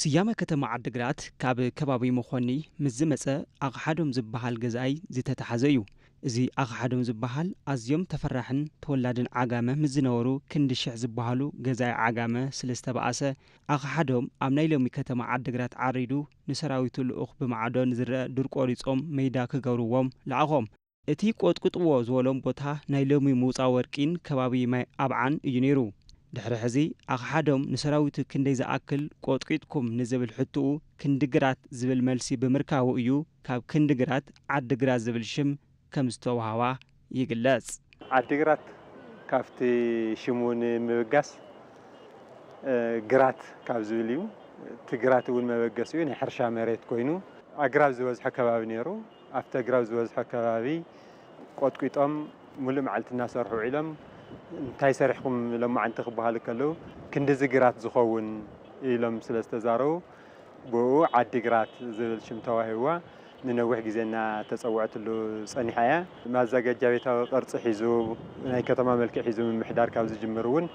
ስያመ ከተማ ዓዲግራት ካብ ከባቢ መኾኒ ምስ ዝመጸ ኣቕሓዶም ዝበሃል ገዛኣይ ዝተታሕዘ እዩ። እዚ ኣቕሓዶም ዝበሃል ኣዝዮም ተፈራሕን ተወላድን ዓጋመ ምስ ዝነበሩ ክንዲ ሽሕ ዝበሃሉ ገዛኢ ዓጋመ ስለ ዝተባኣሰ ኣቕሓዶም ኣብ ናይ ሎሚ ከተማ ዓዲግራት ዓሪዱ ንሰራዊቱ ልኡኽ ብማዕዶ ንዝረኣ ዱር ቆሪጾም መይዳ ክገብርዎም ለኣኾም። እቲ ቆጥቍጥዎ ዝበሎም ቦታ ናይ ሎሚ ምውጻእ ወርቂን ከባቢ ማይ ኣብዓን እዩ ነይሩ። ድሕሪ ሕዚ ኣኽሓዶም ንሰራዊቱ ክንደይ ዝኣክል ቆጥቂጥኩም ንዝብል ሕትኡ ክንዲ ግራት ዝብል መልሲ ብምርካቡ እዩ ካብ ክንዲ ግራት ዓዲ ግራት ዝብል ሽም ከም ዝተውሃባ ይግለጽ። ዓዲ ግራት ካብቲ ሽሙ ንምብጋስ ግራት ካብ ዝብል እዩ። እቲ ግራት እውን መበገሲኡ ናይ ሕርሻ መሬት ኮይኑ ኣግራብ ዝበዝሖ ከባቢ ነይሩ። ኣብቲ ኣግራብ ዝበዝሖ ከባቢ ቆጥቂጦም ሙሉእ መዓልቲ እናሰርሑ ውዒሎም እንታይ ሰሪሕኹም ሎማዓንቲ ክበሃሉ ከለው ክንድዚ ግራት ዝኸውን ኢሎም ስለዝተዛረቡ ብእኡ ዓዲ ግራት ዝብል ሽም ተዋሂብዋ ንነዊሕ ግዜ እናተፀወዐትሉ ፀኒሓ እያ። ማዘጋጃ ቤታዊ ቅርፂ ሒዙ ናይ ከተማ መልክዕ ሒዙ ምምሕዳር ካብ ዝጅምር እውን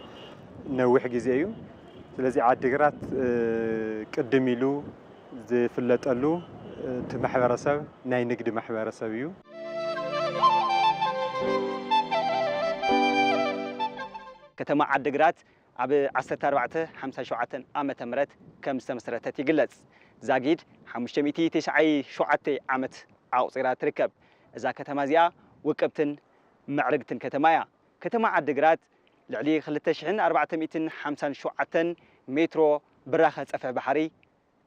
ነዊሕ ግዜ እዩ። ስለዚ ዓዲ ግራት ቅድም ኢሉ ዝፍለጠሉ እቲ ማሕበረሰብ ናይ ንግዲ ማሕበረሰብ እዩ። ከተማ ዓዲግራት ኣብ ዓሰርተ ኣርባዕተ ሓምሳ ሸውዓተን ዓመተ ምህረት ከም ዝተመስረተት ይግለጽ። ዛጊድ ሓሙሽተ ሚእቲ ቴስዓይ ሸውዓተ ዓመት ኣቑጺራ ትርከብ። እዛ ከተማ እዚኣ ውቅብትን ምዕርግትን ከተማ እያ። ከተማ ዓዲግራት ልዕሊ ክልተ ሽሕን ኣርባዕተ ሚእትን ሓምሳን ሸውዓተን ሜትሮ ብራኸ ፀፍሒ ባሕሪ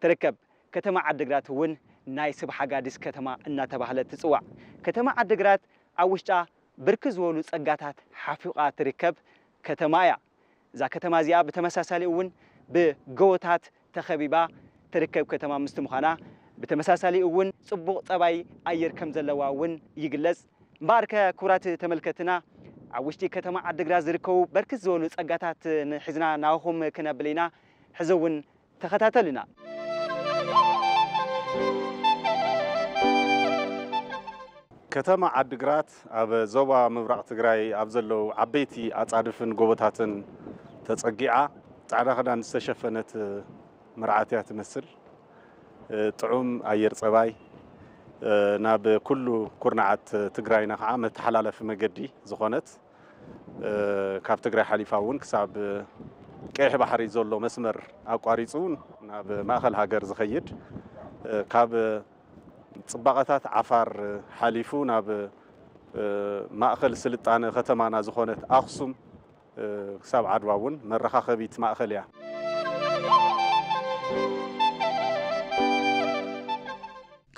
ትርከብ። ከተማ ዓዲግራት እውን ናይ ስብ ሓጋዲስ ከተማ እናተባህለት ትፅዋዕ። ከተማ ዓዲግራት ኣብ ውሽጣ ብርክት ዝበሉ ፀጋታት ሓፊቓ ትርከብ ከተማ እያ። እዛ ከተማ እዚኣ ብተመሳሳሊ እውን ብገወታት ተኸቢባ ትርከብ ከተማ ምስቲ ምዃና ብተመሳሳሊ እውን ፅቡቕ ፀባይ ኣየር ከም ዘለዋ እውን ይግለፅ። እምበኣርከ ክቡራት ተመልከትና ኣብ ውሽጢ ከተማ ዓዲግራት ዝርከቡ በርክት ዝበሉ ፀጋታት ሒዝና ናባኹም ክነብል ኢና። ሕዚ እውን ተኸታተሉና። ከተማ ዓዲግራት ኣብ ዞባ ምብራቕ ትግራይ ኣብ ዘለዉ ዓበይቲ ኣፃድፍን ጎቦታትን ተፀጊዓ ፃዕዳ ክዳን ዝተሸፈነት መርዓት እያ ትመስል። ጥዑም ኣየር ፀባይ ናብ ኩሉ ኩርናዓት ትግራይና ከዓ መተሓላለፊ መገዲ ዝኾነት ካብ ትግራይ ሓሊፋ እውን ክሳብ ቀይሕ ባሕሪ ዘሎ መስመር ኣቋሪፁ ናብ ማእኸል ሃገር ዝኸይድ ካብ ጽባቐታት ዓፋር ሓሊፉ ናብ ማእኸል ስልጣነ ከተማና ዝኾነት ኣኽሱም ክሳብ ዓድዋ እውን መረኻኸቢት ማእኸል እያ።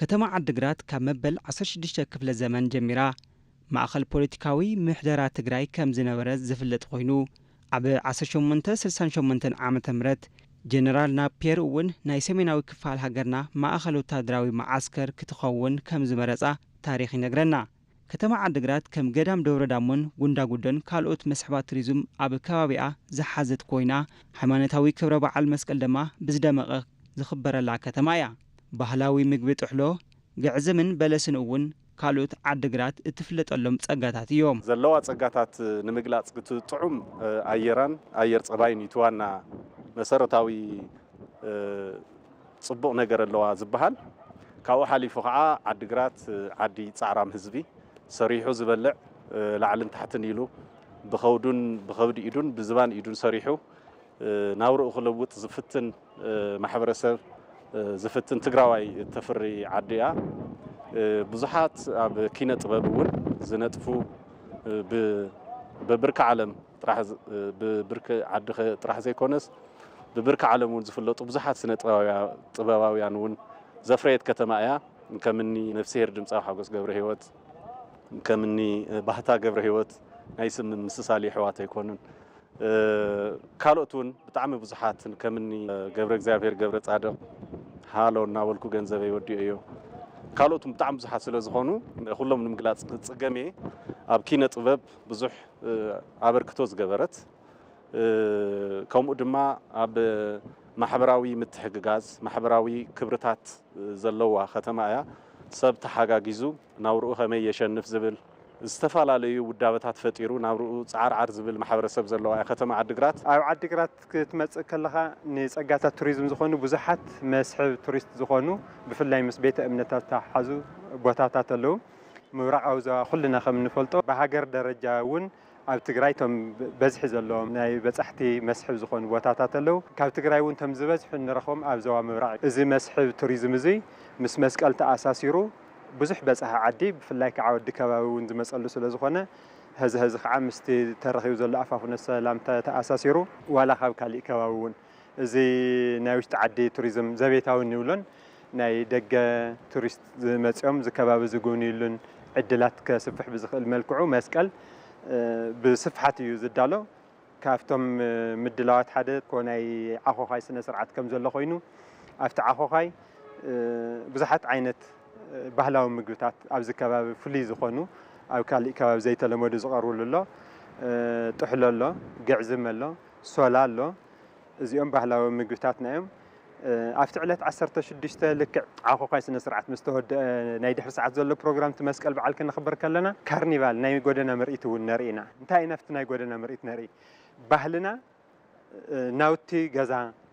ከተማ ዓዲግራት ካብ መበል ዓሰርተ ሽዱሽተ ክፍለ ዘመን ጀሚራ ማእኸል ፖለቲካዊ ምሕደራ ትግራይ ከምዝነበረት ዝፍለጥ ኾይኑ ኣብ ዓሰርተ ሸሞንተ ስልሳን ሸሞንተን ዓመተ ምህረት ጀነራል ናፒየር እውን ናይ ሰሜናዊ ክፋል ሃገርና ማእኸል ወታደራዊ መዓስከር ክትኸውን ከም ዝመረፃ ታሪኽ ይነግረና። ከተማ ዓዲግራት ከም ገዳም ደብረ ዳሞን ጉንዳጉዶን ካልኦት መስሕባት ቱሪዝም ኣብ ከባቢኣ ዝሓዘት ኮይና ሃይማኖታዊ ክብረ በዓል መስቀል ደማ ብዝደመቐ ዝኽበረላ ከተማ እያ። ባህላዊ ምግቢ ጥሕሎ፣ ግዕዝምን በለስን እውን ካልኦት ዓዲግራት እትፍለጠሎም ፀጋታት እዮም። ዘለዋ ፀጋታት ንምግላፅ እቲ ጥዑም ኣየራን ኣየር ፀባይን እዩ እቲ ዋና መሰረታዊ ፅቡቕ ነገር ኣለዋ ዝበሃል። ካብኡ ሓሊፉ ከዓ ዓዲግራት ዓዲ ፃዕራም ህዝቢ፣ ሰሪሑ ዝበልዕ፣ ላዕልን ታሕትን ኢሉ ብኸብዱን ብኸብዲ ኢዱን ብዝባን ኢዱን ሰሪሑ ናብርኡ ክልውጥ ዝፍትን፣ ማሕበረሰብ ዝፍትን ትግራዋይ እተፍሪ ዓዲ እያ። ብዙሓት ኣብ ኪነ ጥበብ እውን ዝነጥፉ በብርኪ ዓለም ጥራሕ ብብርኪ ዓዲ ጥራሕ ዘይኮነስ ብብርኪ ዓለም እውን ዝፍለጡ ብዙሓት ስነ ጥበባውያን እውን ዘፍረየት ከተማ እያ። ከምኒ ነፍስሄር ድምፃዊ ሓጎስ ገብረህይወት፣ ከምኒ ባህታ ገብረህይወት ናይ ስም ምምስሳል የሕዋት ኣይኮኑን። ካልኦት ውን ብጣዕሚ ብዙሓት ከምኒ ገብረእግዚኣብሄር ገብረፃድቕ ሃሎ እናበልኩ ገንዘበይ ወዲኤዮ ካልኦት ውን ብጣዕሚ ብዙሓት ስለዝኾኑ ኩሎም ንምግላፅ ክፅገም እየ። ኣብ ኪነ ጥበብ ብዙሕ ኣበርክቶ ዝገበረት ከምኡ ድማ ኣብ ማሕበራዊ ምትሕግጋዝ ማሕበራዊ ክብርታት ዘለዋ ከተማ እያ። ሰብ ተሓጋጊዙ ናብርኡ ከመይ የሸንፍ ዝብል ዝተፈላለዩ ውዳበታት ፈጢሩ ናብርኡ ጻዓርዓር ዝብል ማሕበረሰብ ዘለዋ እያ ከተማ ዓዲግራት። ኣብ ዓዲግራት ክትመጽእ ከለኻ ንጸጋታት ቱሪዝም ዝኾኑ ብዙሓት መስሕብ ቱሪስት ዝኾኑ ብፍላይ ምስ ቤተ እምነታት ዝተሓሓዙ ቦታታት ኣለዉ። ምብራቓዊ ዞባ ኩልና ከም እንፈልጦ ብሃገር ደረጃ እውን ኣብ ትግራይ እቶም በዝሒ ዘለዎም ናይ በፃሕቲ መስሕብ ዝኾኑ ቦታታት ኣለው። ካብ ትግራይ እውን እቶም ዝበዝሑ እንረኽቦም ኣብ ዞባ ምብራቕ እዩ። እዚ መስሕብ ቱሪዝም እዙይ ምስ መስቀል ተኣሳሲሩ ብዙሕ በፃሒ ዓዲ ብፍላይ ከዓ ወዲ ከባቢ እውን ዝመፀሉ ስለዝኾነ ሀዚ ሀዚ ከዓ ምስቲ ተረኺቡ ዘሎ ኣፋፍኖ ሰላም ተኣሳሲሩ ዋላ ካብ ካሊእ ከባቢ እውን እዚ ናይ ውሽጢ ዓዲ ቱሪዝም ዘቤታዊ እንብሎን ናይ ደገ ቱሪስት ዝመፅኦም እዚ ከባቢ ዝጉብንዩሉን ዕድላት ከስፍሕ ብዝኽእል መልክዑ መስቀል ብስፍሓት እዩ ዝዳሎ። ካብቶም ምድላዋት ሓደ እኮ ናይ ዓኾዃይ ስነ ስርዓት ከም ዘሎ ኮይኑ ኣብቲ ዓኾዃይ ብዙሓት ዓይነት ባህላዊ ምግብታት ኣብዚ ከባቢ ፍሉይ ዝኾኑ ኣብ ካሊእ ከባቢ ዘይተለመዱ ዝቐርብሉ ኣሎ። ጥሕሎ ኣሎ፣ ግዕዝም ኣሎ። ሶላ ኣሎ እዚኦም ባህላዊ ምግብታትና እዮም። ኣብቲ ዕለት ዓሰርተ ሽዱሽተ ልክዕ ዓኾዃይ ስነ ስርዓት ምስ ተወድአ ናይ ድሕሪ ሰዓት ዘሎ ፕሮግራም እቲ መስቀል በዓል ከነኽብር ከለና ካርኒቫል ናይ ጎደና ምርኢት እውን ነርኢ ኢና። እንታይ ኢና ኣብቲ ናይ ጎደና ምርኢት ነርኢ ባህልና ናውቲ ገዛ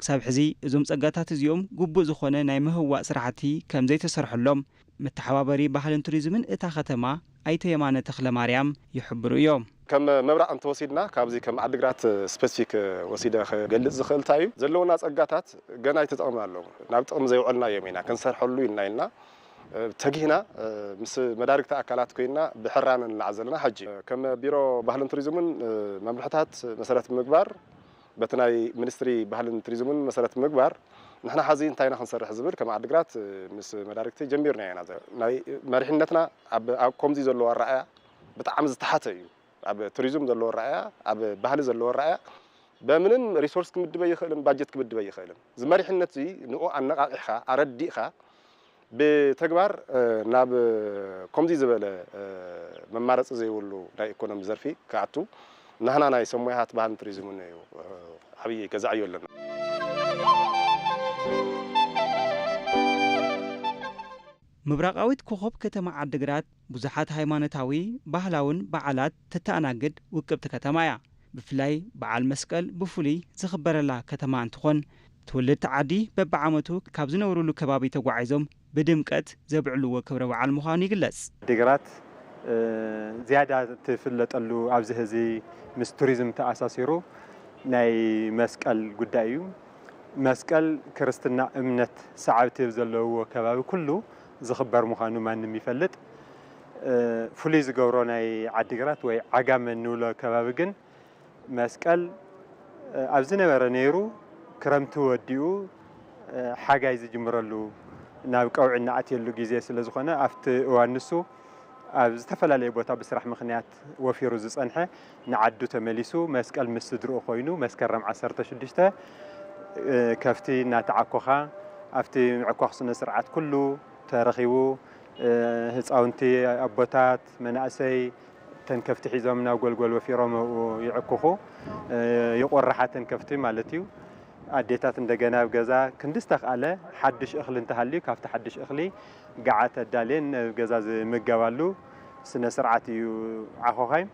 ክሳብ ሕዚ እዞም ፀጋታት እዚኦም ግቡእ ዝኾነ ናይ ምህዋእ ስራሕቲ ከም ዘይተሰርሐሎም መተሓባበሪ ባህልን ቱሪዝምን እታ ከተማ ኣይተ የማነ ተኽለማርያም ይሕብሩ እዮም። ከም ምብራቕ እንተወሲድና ካብዚ ከም ዓዲግራት ስፐሲፊክ ወሲደ ክገልፅ ዝኽእል እንታይ እዩ ዘለውና ፀጋታት ገና ኣይተጠቐምናሎም ናብ ጥቕሚ ዘየውዐልናዮም ኢና ክንሰርሐሉ ኢልና ኢልና ተጊህና ምስ መዳርግቲ ኣካላት ኮይንና ብሕራነ ንለዓል ዘለና ሕጂ ከም ቢሮ ባህልን ቱሪዝምን መምርሕታት መሰረት ብምግባር በቲ ናይ ሚኒስትሪ ባህልን ቱሪዝምን መሰረት ብምግባር ንሕና ሐዚ እንታይ ኢና ክንሰርሕ ዝብል ከም ዓዲግራት ምስ መዳርግቲ ጀሚርናዮ ኢና። ናይ መሪሕነትና ኣብ ኮምዚ ዘለዎ ኣረኣእያ ብጣዕሚ ዝተሓተ እዩ። ኣብ ቱሪዝም ዘለዎ ኣረኣእያ፣ ኣብ ባህሊ ዘለዎ ኣረኣእያ በምንም ሪሶርስ ክምድብ ኣይኽእልን፣ ባጀት ክምድብ ኣይኽእልን። እዚ መሪሕነት እዚ ንኡ ኣነቓቒሕኻ፣ ኣረዲእኻ ብተግባር ናብ ኮምዚ ዝበለ መማረፂ ዘይብሉ ናይ ኢኮኖሚ ዘርፊ ክኣቱ ናህና ናይ ሰብ ሞያታት ባህልን ቱሪዝምን እዩ ዓብይ ገዛ ዕዮ ኣለና። ምብራቓዊት ኮኾብ ከተማ ዓዲግራት ብዙሓት ሃይማኖታዊ፣ ባህላውን በዓላት ተተኣናግድ ውቅብቲ ከተማ እያ። ብፍላይ በዓል መስቀል ብፍሉይ ዝኽበረላ ከተማ እንትኾን ትውልድቲ ዓዲ በቢዓመቱ ካብ ዝነብርሉ ከባቢ ተጓዒዞም ብድምቀት ዘብዕልዎ ክብረ በዓል ምዃኑ ይግለፅ። ዓዲግራት ዝያዳ ትፍለጠሉ ኣብዚ ሀዚ ምስ ቱሪዝም ተኣሳሲሩ ናይ መስቀል ጉዳይ እዩ። መስቀል ክርስትና እምነት ሰዓብቲ ኣብ ዘለውዎ ከባቢ ኩሉ ዝኽበር ምዃኑ ማንም ይፈልጥ። ፍሉይ ዝገብሮ ናይ ዓዲግራት ወይ ዓጋመ እንብሎ ከባቢ ግን መስቀል ኣብ ዝነበረ ነይሩ ክረምቲ ወዲኡ ሓጋይ ዝጅምረሉ ናብ ቀውዒ እንኣትየሉ ግዜ ስለ ዝኾነ ኣብቲ እዋን ንሱ ኣብ ዝተፈላለየ ቦታ ብስራሕ ምኽንያት ወፊሩ ዝጸንሐ ንዓዱ ተመሊሱ መስቀል ምስ ስድርኡ ኮይኑ መስከረም ዓሰርተ ሽዱሽተ ከፍቲ እናተዓኮኻ ኣብቲ ምዕኳኽ ስነ ስርዓት ኩሉ ተረኺቡ ህፃውንቲ፣ ኣቦታት፣ መናእሰይ እተን ከፍቲ ሒዞም ናብ ጎልጎል ወፊሮም ኣብኡ ይዕኩኹ። ይቖርሓ እተን ከፍቲ ማለት እዩ። ኣዴታት እንደገና ኣብ ገዛ ክንዲ ዝተኽኣለ ሓዱሽ እኽሊ እንተሃልዩ ካብቲ ሓዱሽ እኽሊ ገዓት ኣዳልየን ኣብ ገዛ ዝምገባሉ ስነ ስርዓት እዩ ዓኾኻይ።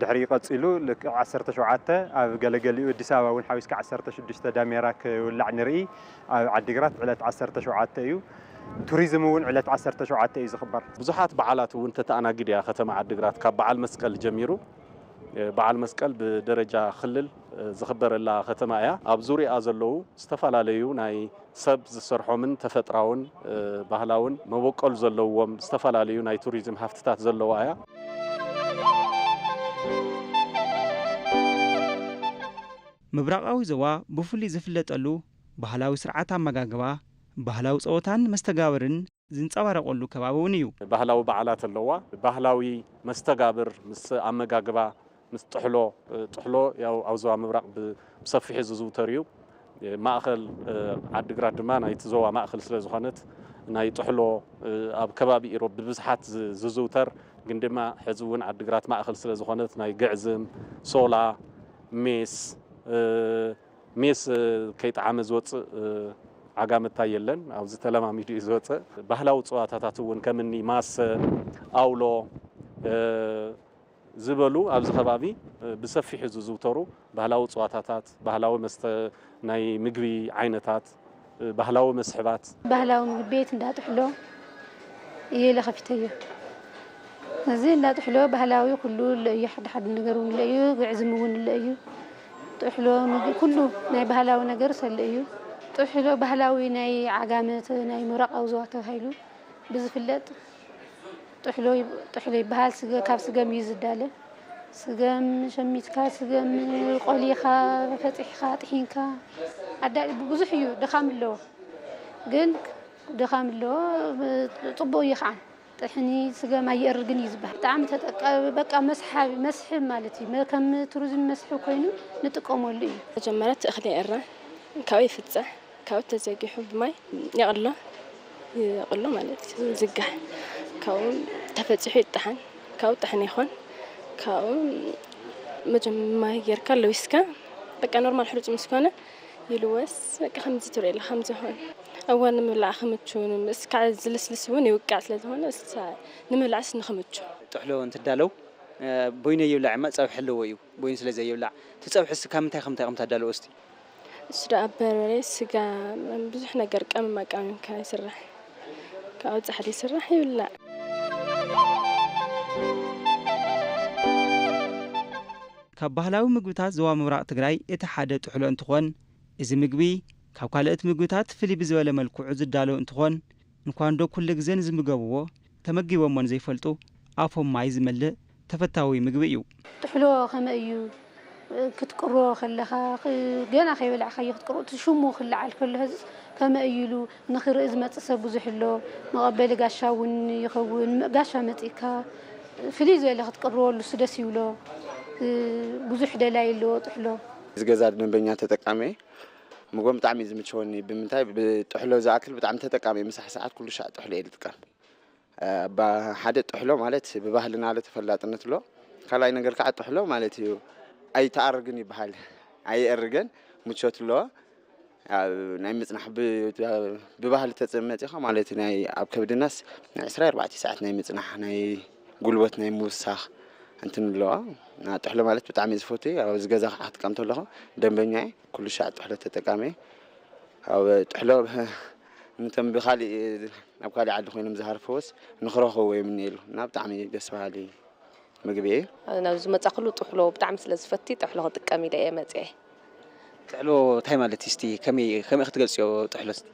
ድሕሪኡ ቀጺሉ ልክዕ ዓሰርተ ሸውዓተ ኣብ ገለገሊኡ ኣዲስ ኣበባ እውን ሓዊስካ ዓሰርተ ሽዱሽተ ዳሜራ ክውላዕ ንርኢ ኣብ ዓዲግራት ዕለት ዓሰርተ ሸውዓተ እዩ ቱሪዝም እውን ዕለት ዓሰርተ ሸውዓተ እዩ ዝኽበር ብዙሓት በዓላት እውን ተተኣናግድ እያ ከተማ ዓዲግራት ካብ በዓል መስቀል ጀሚሩ በዓል መስቀል ብደረጃ ክልል ዝኽበረላ ከተማ እያ ኣብ ዙርያኣ ዘለዉ ዝተፈላለዩ ናይ ሰብ ዝሰርሖምን ተፈጥራውን ባህላውን መበቆል ዘለዎም ዝተፈላለዩ ናይ ቱሪዝም ሃፍትታት ዘለዋ እያ። ምብራቓዊ ዞባ ብፍሉይ ዝፍለጠሉ ባህላዊ ስርዓት ኣመጋግባ፣ ባህላዊ ፀወታን መስተጋብርን፣ ዝንጸባረቐሉ ከባቢ እውን እዩ። ባህላዊ በዓላት ኣለዋ። ባህላዊ መስተጋብር ምስ ኣመጋግባ፣ ምስ ጥሕሎ፣ ጥሕሎ ያው ኣብ ዞባ ምብራቕ ብሰፊሑ ዝዝውተር እዩ። ማእኸል ዓዲግራት ድማ ናይቲ ዞባ ማእኸል ስለ ዝኾነት ናይ ጥሕሎ ኣብ ከባቢ ኢሮብ ብብዝሓት ዝዝውተር ግን ድማ ሕዚ እውን ዓዲግራት ማእኸል ስለ ዝኾነት ናይ ግዕዝም፣ ሶላ፣ ሜስ፣ ሜስ ከይጠዓመ ዝወጽእ ዓጋመታይ የለን። ኣብዚ ተለማሚዱ እዩ ዝወጸ። ባህላዊ ጸዋታታት እውን ከም እኒ ማሰ፣ ኣውሎ ዝበሉ ኣብዚ ከባቢ ብሰፊሑ ዝዝውተሩ ባህላዊ ጸዋታታት፣ ባህላዊ መስተ ናይ ምግቢ ዓይነታት፣ ባህላዊ መስሕባት። ባህላዊ ምግቢ ቤት እንዳ ጥሕሎ እየ ኢለ ከፊተዮ። እዚ እንዳ ጥሕሎ ባህላዊ ኩሉ እሎ እዩ፣ ሓዲ ሓዲ ነገር እውን እሎ እዩ፣ ግዕዝም እውን እሎ እዩ። ጥሕሎ ምግቢ ኩሉ ናይ ባህላዊ ነገርስ እሎ እዩ። ጥሕሎ ባህላዊ ናይ ዓጋመ ናይ ምብራቓዊ ዞባ ተባሂሉ ብዝፍለጥ ጥሕሎ ጥሕሎ ይበሃል ካብ ስገም እዩ ዝዳለ ስገም ሸሚትካ ስገም ቆሊኻ ፈጢሕኻ ጥሒንካ ኣዳ ብዙሕ እዩ ድኻም ኣለዎ ግን ድኻም ኣለዎ ፅቡቅ እዩ ከዓ ጥሕኒ ስገም ኣየእርግን እዩ ዝበሃል ብጣዕሚ ተጠቀ በቃ መስሓቢ መስሕብ ማለት እዩ ከም ቱሪዝም መስሕብ ኮይኑ ንጥቀመሉ እዩ መጀመርያ እቲ እኽሊ ይእረ ካብኡ ይፍፀ ካብኡ ተዘጊሑ ብማይ የቕሎ ይቕሎ ማለት እዩ ዝጋሕ ካብኡ ተፈፂሑ ይጣሓን ካብኡ ጣሕኒ ይኾን ካብኡ መጀም ማይ ጌርካ ለዊስካ በቃ ኖርማል ሕሩጭ ምስ ኮነ ይልወስ በቃ ከምዚ ትርእየላ ከም ዝሆን እዋን ንምብላዕ ክምቹ ምስ ካዕ ዝልስልስ እውን ይውቃዕ ስለ ዝኾነ እሳ ንምብላዕስ ንክምቹ ጥሕሎ እንትዳለው ቦይነ ይብላዕ እማ ፀብሒ ኣለዎ እዩ ቦይነ ስለ ዘይብላዕ እቲ ፀብሕስ ካብ ምንታይ ከምንታይ ከም ታዳልዎ እስቲ እሱ ደኣ በርበሬ ስጋ ብዙሕ ነገር ቀመማ ቀመም ካብ ይስራሕ ካብኡ ጻሕሊ ይስራሕ ይብላዕ። ካብ ባህላዊ ምግብታት ዞባ ምብራቕ ትግራይ እቲ ሓደ ጥሕሎ እንትኾን እዚ ምግቢ ካብ ካልኦት ምግብታት ፍልይ ብዝበለ መልክዑ ዝዳሎ እንትኾን እንኳንዶ ኩሉ ግዘ ንዝምገብዎ ተመጊቦሞን ዘይፈልጡ ኣፎም ማይ ዝመልእ ተፈታዊ ምግቢ እዩ። ጥሕሎ ከመይ እዩ ክትቅሮ ከለኻ ገና ከይበላዕካዮ ክትቅሮ እቲ ሽሙ ክለዓል ከሎ ሀዝስ ከመይ እዩ ኢሉ ንክርኢ ዝመፅእ ሰብ ብዙሕ ኣሎ መቐበሊ ጋሻ እውን ይኸውን ጋሻ መፂእካ ፍልይ ዝበለ ክትቅርዎ ንሱ ደስ ይብሎ ብዙሕ ደላይ ኣለዎ ጥሕሎ። እዚ ገዛ ደንበኛ ተጠቃሚ እየ ምግቦም ብጣዕሚ እዩ ዝምቸወኒ ብምንታይ ብጥሕሎ ዝኣክል ብጣዕሚ ተጠቃሚ እየ ምሳሕ ሰዓት ኩሉ ሻዕ ጥሕሎ እየ ዝጥቀም ሓደ ጥሕሎ ማለት ብባህልና ለ ተፈላጥነት ኣሎ ካልኣይ ነገር ከዓ ጥሕሎ ማለት እዩ ኣይተኣርግን ይበሃል ኣይእርገን ምቾት ኣለዎ ናይ ምፅናሕ ብባህሊ ተፅመፂኻ ማለት እዩ ናይ ኣብ ከብድናስ ናይ ዕስራ ኣርባዕተ ሰዓት ናይ ምፅናሕ ናይ ጉልበት ናይ ምውሳኽ እንትን ኣለዋ ጥሕሎ ማለት ብጣዕሚ ዝፈቱ ኣብ ዝገዛ ከዓ ክትቀምቶ ኣለኹ ደንበኛ እየ ኩሉ ሻዕ ጥሕሎ ተጠቃሚ እየ። ኣብ ጥሕሎ ነቶም ብካሊእ ኣብ ካሊእ ዓዲ ኮይኖም ዝሃርፍዎስ ንክረክብዎ ይምነየሎም እና ብጣዕሚ ደስ በሃሊ ምግቢ እዩ። ናብ ዝመጻክሉ ጥሕሎ ብጣዕሚ ስለ ዝፈቲ ጥሕሎ ክጥቀም ኢለ እየ መጺኤ። ጥሕሎ ታይ ማለት እዩ እስቲ ከመይ ከመይ ክትገልጽዮ ጥሕሎ እስቲ?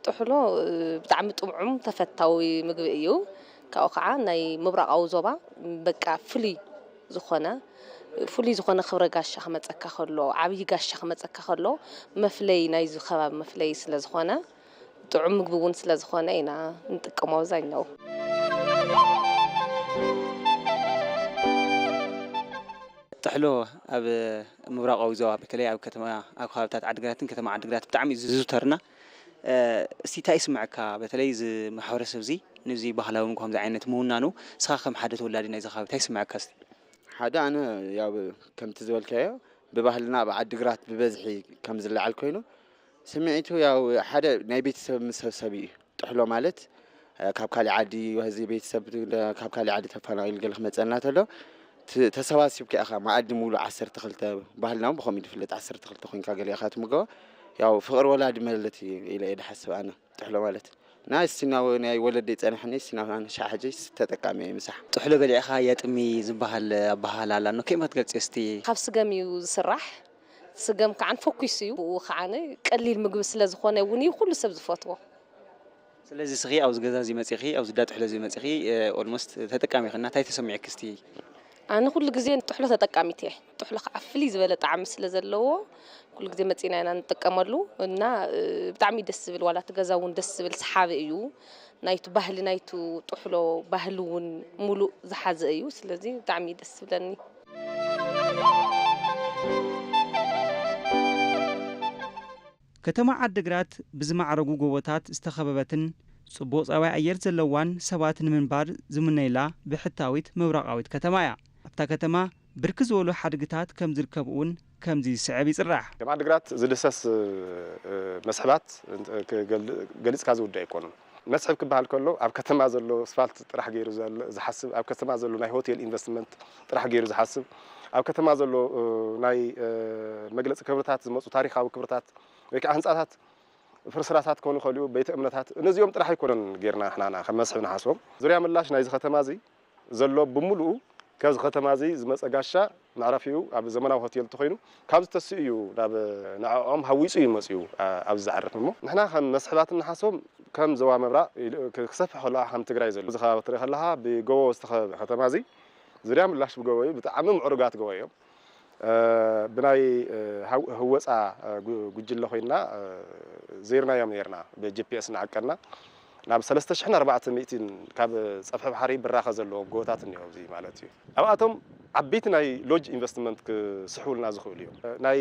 ጥሕሎ ብጣዕሚ ጥዑም ተፈታዊ ምግቢ እዩ። ካብኡ ከዓ ናይ ምብራቃዊ ዞባ በቃ ፍሉይ ዝኾነ ፍሉይ ዝኾነ ክብረ ጋሻ ክመጸካ ከሎ ዓብዪ ጋሻ ክመጸካ ከሎ መፍለዪ ናይዚ ከባቢ መፍለዪ ስለ ዝኾነ ጥዑም ምግቢ እውን ስለ ዝኾነ ኢና ንጥቀሞ ኣብዛኛው። ጥሕሎ ኣብ ምብራቓዊ ዞባ በተለይ ኣብ ከተማ ኣብ ከባብታት ዓዲግራትን ከተማ ዓዲግራት ብጣዕሚ እዩ ዝዝውተርና እስቲ ታይ ይስመዐካ በተለይ እዚ ማሕበረሰብ እዚ ንዚ ባህላዊ ምግቢ ከምዚ ዓይነት ምውናኑ ንስኻ ከም ሓደ ተወላዲ ናይዚ ከባቢ ታይ ይስመዐካ እስቲ? ሓደ ኣነ ያው ከምቲ ዝበልካዮ ብባህልና ኣብ ዓዲ ግራት ብበዝሒ ከም ዝለዓል ኮይኑ ስምዒቱ ያው ሓደ ናይ ቤተሰብ ምሰብሰብ እዩ ጥሕሎ ማለት ካብ ካሊእ ዓዲ እዚ ቤተሰብ ካብ ካሊእ ዓዲ ተፋናቂሉ ገለ ክመፀና ተሎ ተሰባሲብካ ኢኻ መኣዲ ሙሉ ዓሰርተ ክልተ ባህልና ብከምኡ ድፍለጥ ዓሰርተ ክልተ ኮይንካ ገለ ኢኻ ትምገባ ያው ፍቅር ወላዲ መለት እዩ ኢለ ድሓስብ ኣነ ጥሕሎ ማለት ናይ እስቲና ናይ ወለደይ ጸናሕኒ እስቲና ኣነ ሻዕ ሕጂ ተጠቃሚ እየ ምሳሕ ጥሕሎ በሊዕኻ የጥሚ ዝበሃል ኣበሃህላ ኣላ እኖ ከመይ ትገልጽዮ እስቲ? ካብ ስገም እዩ ዝስራሕ ስገም ከዓን ፈኲስ እዩ ብኡ ከዓን ቀሊል ምግቢ ስለ ዝኾነ እውን እዩ ኩሉ ሰብ ዝፈትዎ ስለዚ እስኺ ኣብዚ ገዛ እዚ መጺኺ ኣብዚ እንዳ ጥሕሎ እዚ መጺኺ ኦልሞስት ተጠቃሚ ኢኺ እና እንታይ ተሰሚዑኪ እስቲ? ኣነ ኩሉ ግዜ ንጥሕሎ ተጠቃሚት እየ ጥሕሎ ክዓ ፍልይ ዝበለ ጣዕሚ ስለ ዘለዎ ኩሉ ግዜ መፂና ኢና ንጥቀመሉ እና ብጣዕሚ እዩ ደስ ዝብል ዋላ እቲ ገዛ እውን ደስ ዝብል ሰሓቢ እዩ ናይቲ ባህሊ ናይቲ ጥሕሎ ባህሊ እውን ሙሉእ ዝሓዘ እዩ ስለዚ ብጣዕሚ እዩ ደስ ዝብለኒ። ከተማ ዓዲግራት ብዝማዕረጉ ጎቦታት ዝተኸበበትን ፅቡቕ ፀባይ ኣየር ዘለዋን ሰባት ንምንባር ዝምነዩላ ብሕታዊት ምብራቓዊት ከተማ እያ። ኣብታ ከተማ ብርክት ዝበሉ ሓድግታት ከም ዝርከቡ እውን ከምዚ ዝስዕብ ይፅራሕ። ከም ዓዲግራት ዝድህሰስ መስሕባት ገሊፅካ ዝውዳእ ኣይኮኑን። መስሕብ ክበሃል ከሎ ኣብ ከተማ ዘሎ ስፋልት ጥራሕ ገይሩ ዝሓስብ፣ ኣብ ከተማ ዘሎ ናይ ሆቴል ኢንቨስትመንት ጥራሕ ገይሩ ዝሓስብ፣ ኣብ ከተማ ዘሎ ናይ መግለፂ ክብርታት ዝመፁ ታሪኻዊ ክብርታት ወይ ከዓ ህንፃታት ፍርስራሳት ክኾኑ ይኸእሉ፣ ቤተ እምነታት፣ እነዚኦም ጥራሕ ኣይኮነን ገይርና ንሕና ከም መስሕብ ንሓስቦም። ዙርያ ምላሽ ናይዚ ከተማ እዚ ዘሎ ብምሉኡ ከዚ ከተማ እዚ ዝመጸ ጋሻ መዕረፊኡ ኣብ ዘመናዊ ሆቴል እንተኾይኑ ካብ ዝተስኡ እዩ ናብ ንዕኦም ሃዊጹ እዩ መጺኡ ኣብዚ ዝዓርፍ እሞ ንሕና ከም መስሕባት እንሓስቦም ከም ዞባ ምብራቕ ኢሉ ክሰፍሕ ከሎ ኣሕ ከም ትግራይ ዘሎ እዚ ከባቢ ክትርኢ ከለኻ ብጎቦ ዝተኸበበ ከተማ እዚ ዙርያ ምላሽ ብጎቦ እዩ ብጣዕሚ ምዕሩጋት ጎቦ እዮም። ብናይ ህወጻ ጉጅለ ኮይንና ዘይርናዮም ኔርና ብጅፒኤስ እናዓቀንና ናብ ሰለስተ ሽሕን ኣርባዕተ ሚእቲን ካብ ጸፍሒ ባሕሪ ብራኸ ዘለዎም ጎቦታት እኒሀው ኣብዚ ማለት እዩ ኣብኣቶም ዓበይቲ ናይ ሎጅ ኢንቨስትመንት ክስሕቡልና ዝኽእሉ እዮም ናይ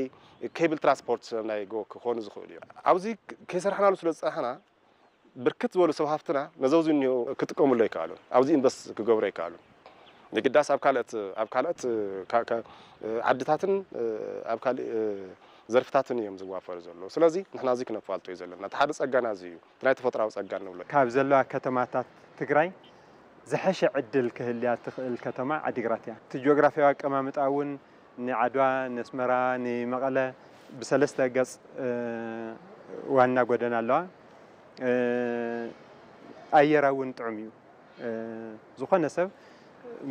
ኬብል ትራንስፖርት ናይ ጎ ክኾኑ ዝኽእሉ እዮም ኣብዚ ከይሰራሕናሉ ስለ ዝጸናሕና ብርክት ዝበሉ ሰብ ሃፍትና ነዘውዚ እኒሆ ክጥቀምሉ ኣይከኣሉን። ኣብዚ ኢንቨስት ክገብሩ ኣይከኣሉን። የግዳስ ኣብ ካልኦት ኣብ ካልኦት ዓድታትን ኣብ ካሊእ ዘርፍታትን እዮም ዝዋፈሩ ዘለዉ። ስለዚ ንሕና እዚ ክነፋልጦ እዩ ዘለና። እቲ ሓደ ፀጋና እዚ እዩ። እቲ ናይ ተፈጥሮኣዊ ፀጋ እንብሎ። ካብ ዘለዋ ከተማታት ትግራይ ዝሐሸ ዕድል ክህልያ እትኽእል ከተማ ዓዲግራት እያ። እቲ ጂኦግራፊያዊ ኣቀማምጣ እውን ንዓድዋ፣ ነስመራ፣ ንመቐለ ብሰለስተ ገጽ ዋና ጎደና ኣለዋ። ኣየራ እውን ጥዑም እዩ። ዝኾነ ሰብ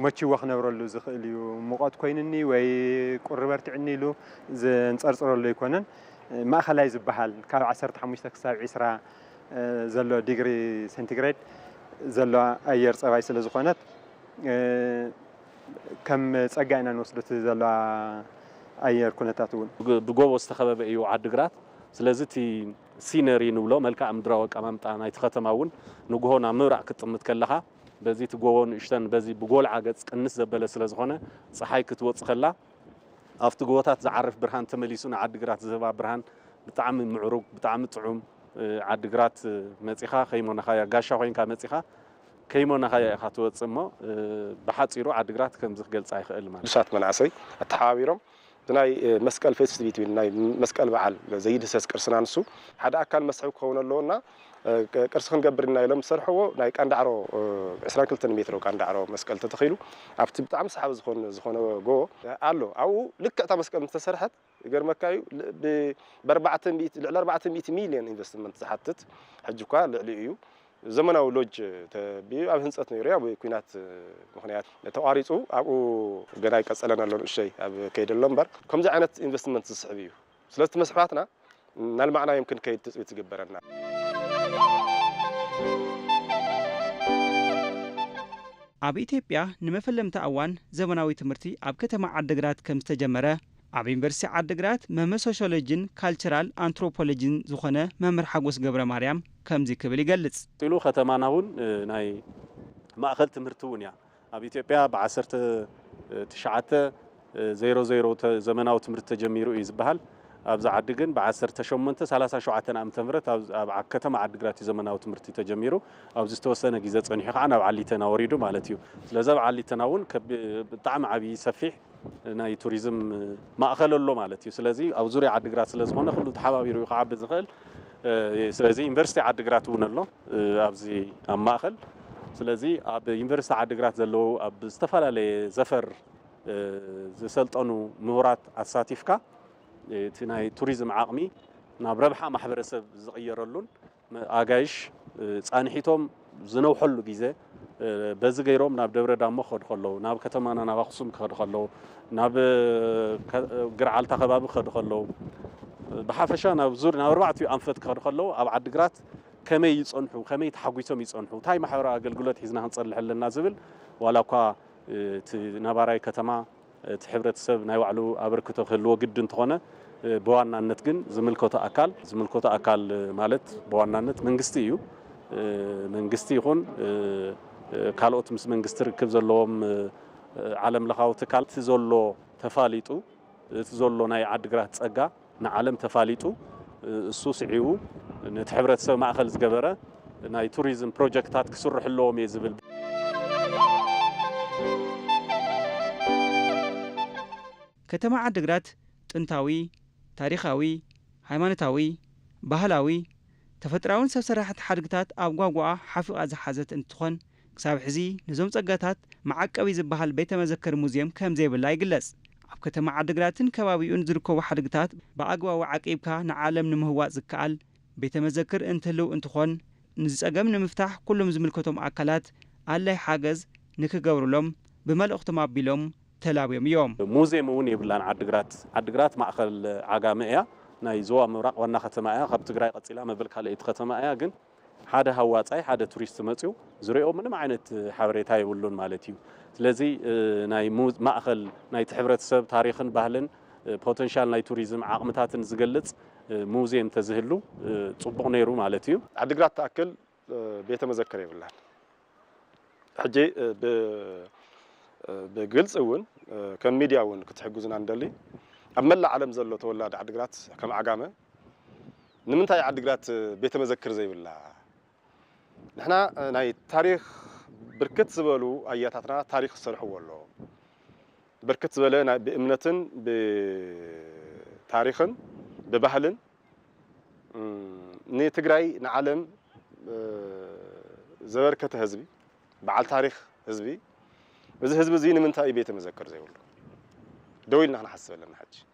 መችይዎ ክነብረሉ ዝኽእል እዩ። ሙቐት ኮይኑኒ ወይ ቁሪ በርቲዑኒ ኢሉ ዘንጸርጽረሉ ኣይኮነን። ማእኸላይ ዝበሃል ካብ ዓሰርተ ሓሙሽተ ክሳብ ዕስራ ዘሎ ዲግሪ ሴንቲግሬድ ዘለዋ ኣየር ጸባይ ስለ ዝኾነት፣ ከም ፀጋ ኢና ንወስዶ እቲ ዘሎ ኣየር ኩነታት እውን። ብጎቦ ዝተኸበበ እዩ ዓዲግራት። ስለዚ እቲ ሲነሪ ንብሎ መልክኣ ምድራዊ ኣቀማምጣ ናይቲ ከተማ እውን ንጉሆ ናብ ምብራቕ ክትጥምት ከለኻ በዚ እቲ ጎቦ ንእሽተን በዚ ብጎልዓ ገፅ ቅንስ ዘበለ ስለዝኾነ ፀሓይ ክትወፅ ከላ ኣብቲ ጎቦታት ዝዓርፍ ብርሃን ተመሊሱ ንዓዲግራት ዝህባ ብርሃን ብጣዕሚ ምዕሩግ ብጣዕሚ ጥዑም ዓዲግራት መፂኻ ከይሞነኻያ ጋሻ ኮይንካ መፂኻ ከይሞናኻዮ ኢኻ ትወጽእ እሞ ብሓጺሩ ዓድግራት ከምዚ ክገልጻ ይኽእል ማለት። ዱሳት መናእሰይ ኣተሓባቢሮም ብናይ መስቀል ፌስቲቪቲ ዊን ናይ መስቀል በዓል ዘይድህሰስ ቅርስና ንሱ ሓደ ኣካል መስሕብ ክኸውን ኣለዎ እና ቅርሲ ክንገብር ኢና ኢሎም ዝሰርሕዎ ናይ ቃንዳዕሮ ዕስራን ክልተን ሜትሮ ቃንዳዕሮ መስቀል ተተኺሉ ኣብቲ ብጣዕሚ ሰሓቢ ዝኾን ዝኾነ ጎቦ ኣሎ ኣብኡ ልክዕ እታ መስቀል ምስተሰርሐት ይገርመካ እዩ ብ ኣርባዕተ ሚእቲ ልዕሊ ኣርባዕተ ሚእቲ ሚልዮን ኢንቨስትመንት ዝሓትት ሕጂ እኳ ልዕሊኡ እዩ ዘመናዊ ሎጅ ተቢዩ ኣብ ህንፀት ነይሩ እዩ ኣብ ኩናት ምክንያት ተቋሪፁ ኣብኡ ገና ይቀፀለን ኣሎ ንእሸይ ኣብ ከይዲ ኣሎ እምበር ከምዚ ዓይነት ኢንቨስትመንት ዝስሕብ እዩ ስለዚ እቲ መስሕባትና እናልማዕናዮም ክንከይድ ትፅቢት ዝግበረልና ኣብ ኢትዮጵያ ንመፈለምታ እዋን ዘመናዊ ትምህርቲ ኣብ ከተማ ዓድግራት ከምዝተጀመረ ኣብ ዩኒቨርሲቲ ዓዲግራት መምህር ሶሽዮሎጂን ካልቸራል ኣንትሮፖሎጂን ዝኾነ መምህር ሓጎስ ገብረማርያም ከምዚ ክብል ይገልፅ። ቀፂሉ ከተማና እውን ናይ ማእኸል ትምህርቲ እውን እያ። ኣብ ኢትዮጵያ ብ ዓሰርተ ትሽዓተ ዜሮ ዜሮ ዘመናዊ ትምህርቲ ተጀሚሩ እዩ ዝበሃል። ኣብዚ ዓዲ ግን ብ ዓሰርተ ሸሞንተ ሰላሳ ሸውዓተ ዓመተ ምህረት ኣብ ከተማ ዓዲግራት እዩ ዘመናዊ ትምህርቲ ተጀሚሩ። ኣብዚ ዝተወሰነ ግዘ ፀኒሑ ከዓ ናብ ዓሊተና ወሪዱ ማለት እዩ። ስለዚ ኣብ ዓሊተና እውን ብጣዕሚ ዓብዪ ሰፊሕ ናይ ቱሪዝም ማእኸል ኣሎ ማለት እዩ። ስለዚ ኣብ ዙርያ ዓዲግራት ስለዝኾነ ኩሉ ተሓባቢሩ እዩ ክዓቢ ዝኽእል። ስለዚ ዩኒቨርሲቲ ዓዲግራት እውን ኣሎ ኣብዚ ኣብ ማእኸል። ስለዚ ኣብ ዩኒቨርሲቲ ዓዲግራት ዘለዉ ኣብ ዝተፈላለየ ዘፈር ዝሰልጠኑ ምሁራት ኣሳቲፍካ እቲ ናይ ቱሪዝም ዓቕሚ ናብ ረብሓ ማሕበረሰብ ዝቕየረሉን ኣጋይሽ ፃንሒቶም ዝነውሐሉ ግዘ በዚ ገይሮም ናብ ደብረ ዳሞ ክኸዱ ከለዉ፣ ናብ ከተማና ናብ ኣኽሱም ክኸዱ ከለዉ፣ ናብ ገርዓልታ ከባቢ ክኸዱ ከለዉ፣ ብሓፈሻ ናብ ዙር ናብ ኣርባዕቲኡ ኣንፈት ክኸዱ ከለዉ ኣብ ዓዲ ግራት ከመይ ይፀንሑ፣ ከመይ ተሓጒሶም ይፀንሑ፣ እንታይ ማሕበራዊ ኣገልግሎት ሒዝና ክንፀንሕ ኣለና ዝብል ዋላ እኳ እቲ ነባራይ ከተማ እቲ ሕብረተሰብ ናይ ባዕሉ ኣበርክቶ ክህልዎ ግድን እንተኾነ ብዋናነት ግን ዝምልከቶ ኣካል ዝምልከቶ ኣካል ማለት ብዋናነት መንግስቲ እዩ መንግስቲ ይኹን ካልኦት ምስ መንግስቲ ርክብ ዘለዎም ዓለም ለኻዊ ትካል እቲ ዘሎ ተፋሊጡ እቲ ዘሎ ናይ ዓዲግራት ፀጋ ንዓለም ተፋሊጡ እሱ ስዒቡ ነቲ ሕብረተሰብ ማእኸል ዝገበረ ናይ ቱሪዝም ፕሮጀክትታት ክስርሑ ኣለዎም እየ ዝብል። ከተማ ዓዲግራት ጥንታዊ፣ ታሪኻዊ፣ ሃይማኖታዊ፣ ባህላዊ፣ ተፈጥራዊን ሰብ ሰራሕት ሓድግታት ኣብ ጓጓኣ ሓፊቓ ዝሓዘት እንትትኾን ክሳብ ሕዚ ነዞም ጸጋታት መዓቀቢ ዝበሃል ቤተ መዘክር ሙዝየም ከም ዘይብላ ይግለጽ። ኣብ ከተማ ዓድግራትን ከባቢኡን ዝርከቡ ሓድግታት ብኣግባቡ ዓቂብካ ንዓለም ንምህዋጽ ዝከኣል ቤተ መዘክር እንትህልው እንትኾን ንዚ ጸገም ንምፍታሕ ኩሉም ዝምልከቶም ኣካላት ኣላይ ሓገዝ ንክገብሩሎም ብመልእኽቶም ኣቢሎም ተላብዮም እዮም። ሙዝየም እውን የብላን ዓድግራት። ዓድግራት ማእኸል ዓጋመ እያ። ናይ ዞባ ምብራቕ ዋና ከተማ እያ። ካብ ትግራይ ቀፂላ መበል ካልኣይቲ ከተማ እያ። ግን ሓደ ሃዋጻይ ሓደ ቱሪስት መጽዩ ዝሪኦ ምንም ዓይነት ሓበሬታ የብሉን ማለት እዩ። ስለዚ ናይ ማእኸል ናይቲ ሕብረተሰብ ታሪኽን ባህልን ፖተንሻል ናይ ቱሪዝም ዓቕምታትን ዝገልጽ ሙዝየም ተዝህሉ ጽቡቕ ነይሩ ማለት እዩ። ዓዲግራት ትኣክል ቤተ መዘክር የብላን። ሕጂ ብ ብግልጺ እውን ከም ሚድያ እውን ክትሕግዙና ንደሊ ኣብ መላእ ዓለም ዘሎ ተወላዲ ዓዲግራት ከም ዓጋመ ንምንታይ ዓዲግራት ቤተ መዘክር ዘይብላ ንሕና ናይ ታሪኽ ብርክት ዝበሉ ኣያታትና ታሪኽ ዝሰርሕዎ ኣሎ ብርክት ዝበለ ናይ ብእምነትን ብታሪኽን ብባህልን ንትግራይ ንዓለም ዘበርከተ ህዝቢ በዓል ታሪኽ ህዝቢ እዚ ህዝቢ እዚ ንምንታይ እዩ ቤተ መዘክር ዘይብሉ ደው ኢልና ክንሓስብ ኣለና ሕጂ።